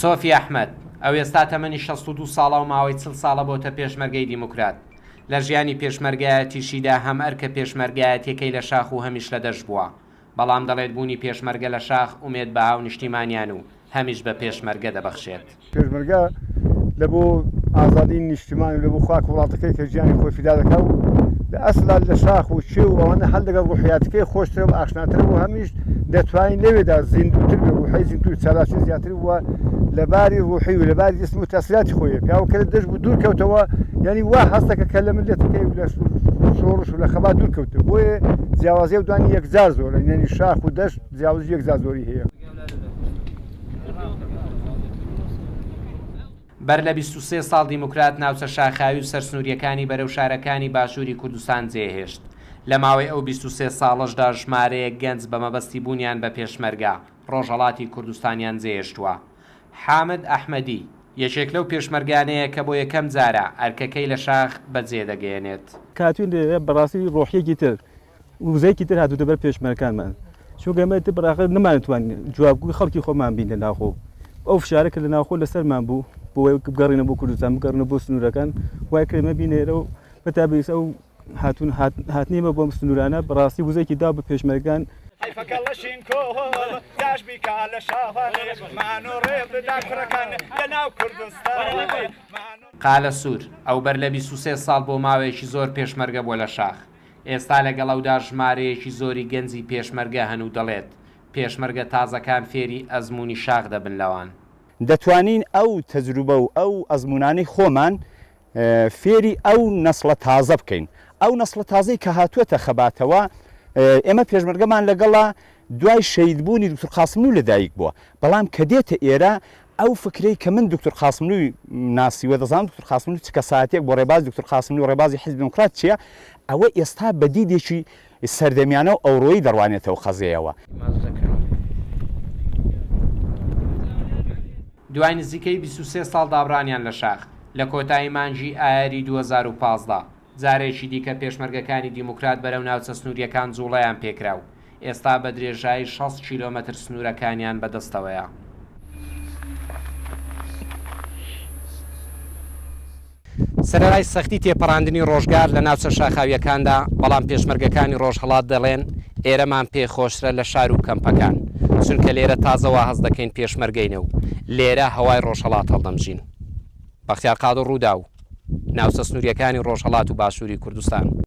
سۆفی ئەحمەد، ئەوێستا تەمەنی شەست و دوو ساڵە و ماوەی چل ساڵە بۆتە پێشمەرگەی دیموکرات. لە ژیانی پێشمەرگایەتیشیدا هەم ئەرکە پێشمەرگایەتیەکەی لە شاخ و هەمیش لە دەشت بووە. بەڵام دەڵێت بوونی پێشمەرگە لە شاخ ئومێد بە هاونیشتیمانیان و هەمیش بە پێشمەرگە دەبەخشێت. پێشمەرگە لە بۆ ئازادی نیشتمان و لە بۆ خاک و وڵاتەکەی کە گیانی خۆی فیدا دەکا و لە ئەسڵا لە شاخ و کێو و ئەوانە هەر لەگەڵ ڕوحیاتەکەی خۆشترە و ئاشناترە و هەمیش دەتوانین لەوێدا زیندووتر بێ ڕوحەی زیندوو چالاکی زیاتر و لە باری ڕوحی و لە باری جسم و تەسیلاتی خۆیە پیاوە کە لە دەش بوو دوور کەوتەوە یعنی وا هەستەکە کە لە ملەتەکەی و لە شۆڕش و لە خەبات دوور کەوتە بۆیە جیاوازی و دوانی یەکجار زۆرە یعنی شاخ و دەشت جیاوازی یەکجار زۆری هەیە بەر لە بیست و سێ ساڵ دیموکرات ناوچە شاخاوی و سەرسنوورییەکانی بەرەو شارەکانی باشووری کوردستان جێهێشت. لە ماوەی ئەو بیست و سێ ساڵەشدا ژمارەیەک گەنج بە مەبەستی بوونیان بە پێشمەرگە، ڕۆژهەڵاتی کوردستانیان جێهێشتووە. حامد ئەحمەدی، یەکێک لەو پێشمەرگانەیە کە بۆ یەکەم جارە ئەرکەکەی لە شاخ بەجێدەگەیەنێت. کاتوین بەڕاستی ڕۆحییەکی تر وزەیەکی تر هاتوتە بەر پێشمەرەکانمان چونکە ئێمە تر بەڕاقە نەمانتوان جوابگوی خەڵکی خۆمان بین لە ناخۆ ئەو فشارە کە لە ناخۆ لەسەرمان بوو بۆی بگەڕینە بۆ کوردستان بگەڕنە بۆ سنوورەکان وای کرێمە بینێرە و بەتا بەیس ئەو هاتون هاتنیمە بۆم سنوورانە بەڕاستی وزێکی دا بە پێشمەرگان حیفەکە لەشین کۆ داش بیکا لە شاوانمان و ڕێ بدا کوڕەکان لە ناو کوردستان قالە سوور، ئەو بەر لە بیست و سێ ساڵ بۆ ماوەیەکی زۆر پێشمەرگە بووە لە شاخ، ئێستا لەگەڵ ئەودا ژمارەیەکی زۆری گەنجی پێشمەرگە هەن و دەڵێت، پێشمەرگە تازەکان فێری ئەزموونی شاخ دەبن لەوان. دەتوانین ئەو تەجروبە و ئەو ئەزموونانەی خۆمان فێری ئەو نەسڵە تازە بکەین. ئەو نەسڵە تازەی کە هاتووەتە خەباتەوە، ئێمە پێشمەرگەمان لەگەڵە، دوای شەهیدبوونی دوکتور قاسملوو لەدایکبووە، بەڵام کە دێتە ئێرە ئەو فکرەی کە من دوکتور قاسملووی ناسیوە، دەزانم دوکتور قاسملوو چ کەسایەتییەک بووە، ڕێبازی دوکتور قاسملوو و ڕێبازی حیزبی دێموکرات چییە، ئەوە ئێستا بە دیدێکی سەردەمیانە و ئەوڕۆیی دەڕوانێتەوە قەزێیەوە. دوای نزیکەی بیست و سێ ساڵ دابڕانیان لە شاخ، لە کۆتایی مانگی ئایاری دوو هەزار و پازدە، جارێکی دیکە پێشمەرگەکانی دیموکرات بەرەو ناوچە سنوورییەکان جووڵەیان پێکرا و ئێستا بە درێژایی شەست کیلۆمەتر سنوورەکانیان بە دەستەوەیە. سەرەرای سەختی تێپەڕاندنی ڕۆژگار لە ناوچە شاخاوییەکاندا، بەڵام پێشمەرگەکانی ڕۆژهەڵات دەڵێن، ئێرەمان پێ خۆشترە لە شار و کەمپەکان، چونکە لێرە تازە واهەست دەکەین پێشمەرگەینە و لێرە هەوای ڕۆژهەڵات هەڵدەمژین. بەختیار قادر رووداو، ناوچە سنوورییەکانی رۆژهەڵات و باشووری کوردستان.